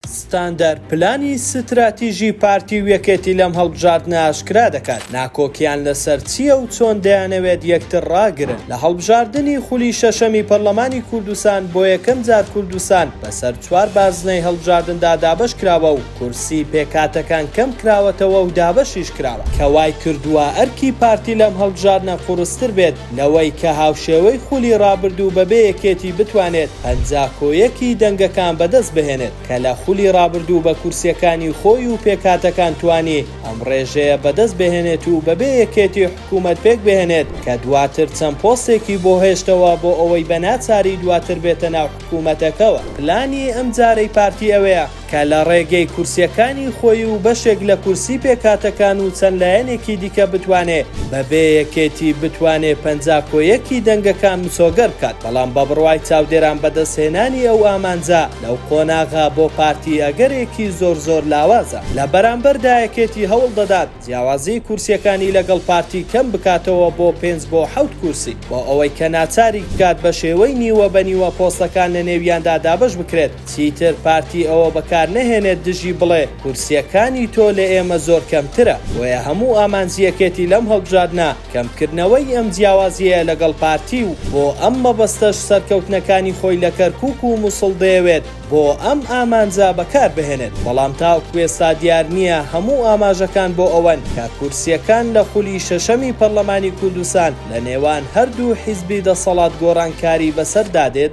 ستاندەر پلانی ستراتیژی پارتی و یەکێتی لەم هەڵبژاردنە ئاشکرا دەکات، ناکۆکییان لەسەر چییە و چۆن دەیانەوێت یەکتر ڕاگرن. لە هەڵبژاردنی خولی شەشەمی پەرلەمانی کوردستان بۆ یەکەم جار کوردستان بەسەر چوار بازنەی هەڵبژاردندا دابەش کراوە و کورسی پێکهاتەکان کەم کراوەتەوە و دابەشیش کراوە، کە وای کردووە ئەرکی پارتی لەم هەڵبژاردنە قورستر بێت. نەوەی کە هاوشێوەی خولی ڕابردوو بەبێ یەکێتی بتوانێت پەنجا کۆ یەکی دەنگەکان بەدەست بهێنێت کە لە خولی ڕابردوو بە کورسیەکانی خۆی و پێکهاتەکان توانی ئەم ڕێژەیە بەدەست بهێنێت و بەبێ یەکێتی حکومەت پێک بهێنێت کە دواتر چەند پۆستێکی بۆ هێشتەوە بۆ ئەوەی بە ناچاری دواتر بێتە ناو حکومەتەکەوە. پلانی ئەمجارەی پارتی ئەوەیە کە لە ڕێگەی کورسیەکانی خۆی و بەشێک لە کورسی پێکهاتەکان و چەند لایەنێکی دیکە بتوانێ بە بێ یەکێتی بتوانێ پەنجا کۆ یەکی دەنگەکان مسۆگەر بکات بەڵام بە بڕوای چاودێران بەدەست هێنانی ئەو ئامانجە لەو قۆناغە بۆ پارتی ئەگەرێکی زۆر زۆر لاوازە لە بەرامبەردا یەکێتی هەوڵ دەدات جیاوازی کورسیەکانی لەگەڵ پارتی کەم بکاتەوە بۆ پێنج بۆ حەوت کورسی بۆ ئەوەی کە ناچاریک بکات بە شێوەی نیوە بە نیوە پۆستەکان لە نێویاندا دابەش بکرێت چیتر پارتی ئەوە بەکار نەهێنێت دژی بڵێ کورسیەکانی تۆ لە ئێمە زۆر کەمترە بۆیە هەموو ئامانجی یەکێتی لەم هەڵبژاردنە کەمکردنەوەی ئەم جیاوازیەیە لەگەڵ پارتی و بۆ ئەم مەبەستەش سەرکەوتنەکانی خۆی لە کەرکوک و موسڵ دەیەوێت بۆ ئەم ئامانجە بەکار بهێنێت، بەڵام تاوکو ئێستا دیار نییە هەموو ئاماژەکان بۆ ئەوەن کە کورسییەکان لە خولی شەشەمی پەرلەمانی کوردستان لە نێوان هەردوو حیزبی دەسەڵات گۆڕانکاری بەسەر دادێت؟